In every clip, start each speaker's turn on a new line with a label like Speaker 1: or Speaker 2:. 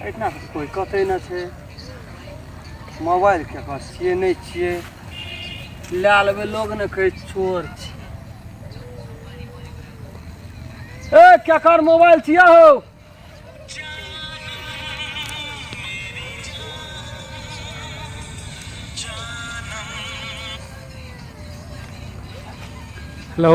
Speaker 1: एहिठिना कोइ कतै नहि छै मोबाइल ककर छियै नहि छियै लए लेबै लोग ने कहै चोर छी ए केकर मोबाइल छियै हौ हेलो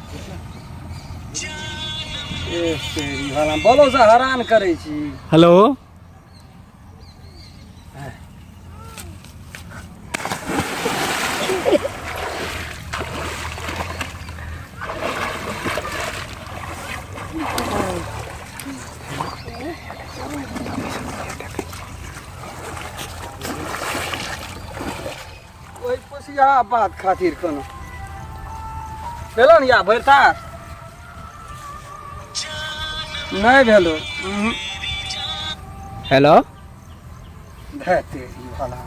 Speaker 1: बोलो से हरान करै छी हेलो ओहि पोसिया बात खातिर कोनो भेलो ने या भरि तार नहि भेलो उहुं। हेलो धे तेरी भला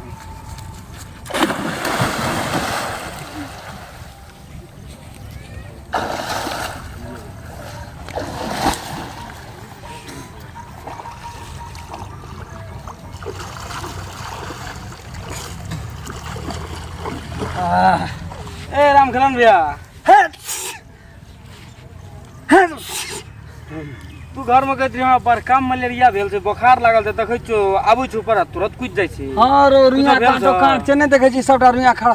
Speaker 1: ए राम करण भैया तू घर में कहत रही हमरा बड़ काम मलेरिया भेल छै बोखार लागल छै देखै छौ आबै छौ पर तुरंत कुछ जाइ छै हाँ रो रुइया भेल काटो छौ? काट छै नहि देखै छी सबटा रुइया खड़ा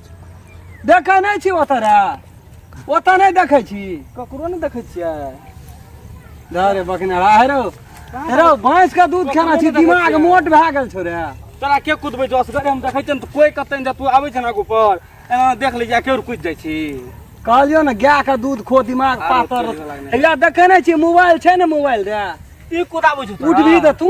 Speaker 1: देखै नहि छी ओतऽ रे ओतऽ नहि देखै छी ककरो नहि देखै छियै धरे बकने हेरो हेरो भैंस के दूध खेना छी दिमाग मोट भए गेल छौ रे तोरा के कुदबै छौ असगरे हम देखै छियै ने तऽ कोइ कतै ने तू आबै छै ने आगू पर एना देख लै छियै केओर कुदि जाइ छी कहलियो ने गाय के दूध खो दिमाग आरो पातर चलि गेलै। हैया देखै नहि छी मोबाइल छै ने मोबाइल रे ई कुदाबै छौ तोरा? उठबी तऽ तू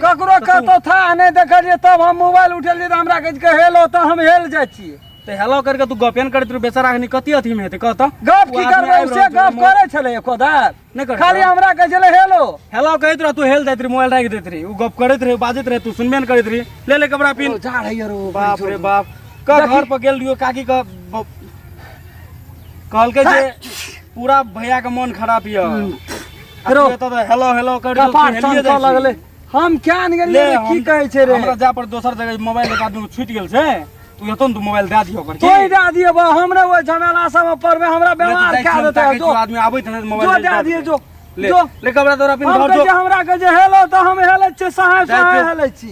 Speaker 1: ककरो कतौ था नहि देखलियै तब हम मोबाइल उठेलियै तऽ हमरा कहै छै हेलो तऽ हम हेल जाइ छियै तऽ हेलो करके तू गपेन करैत रहू बेचारा एखनी कथी अथीमे हेतै कह तऽ गप की करबै से गप करै छलै एको दार नहि करै खाली हमरा कहै छलै हेलो हेलो कहैत रह तू हेल दैत रही मोबाइल राखि दैत रही ओ गप करैत रही बाजैत रही तू सुनबे ने करैत रही ले ले कपड़ा पिन जा रही रो बाप रे बाप का घर पर गेल रहियो काकी का कहलकै जे पूरा भैया के मन खराब यऽ फेरो तू एतऽ तऽ हेलो हेलो कर कपाट चमकऽ लगलै हम कियान गेलियै रे, की कहै छै रे हमरा जा पर दोसर जगह मोबाइल एक आदमी छूटि गेल छै तू एतऽ ने तू मोबाइल दए दियो ओकर तोय दए दिए बा हमरे ओइ झमेला सब में पड़बे हमरा बेमार कए देतै ताकै जो तू आदमी आबै छै मोबाइल जो दए दिए जो ले जो ले कपड़ा तोरा पिन हम घर कहै जो छै हमरा कहै छै हेलो तऽ हम हेलै छियै सहाय जा सहाय जो। हेलै छी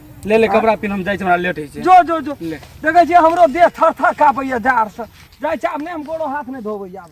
Speaker 1: ले ले कपड़ा पिन हम जाइ छी हमरा लेट होइ छै जो जो जो ले देखै छियै हमरो देह थर थर कापैया जाड़ से जाइ छै आब नहि हम गोड़ो हाथ नहि धोबै आब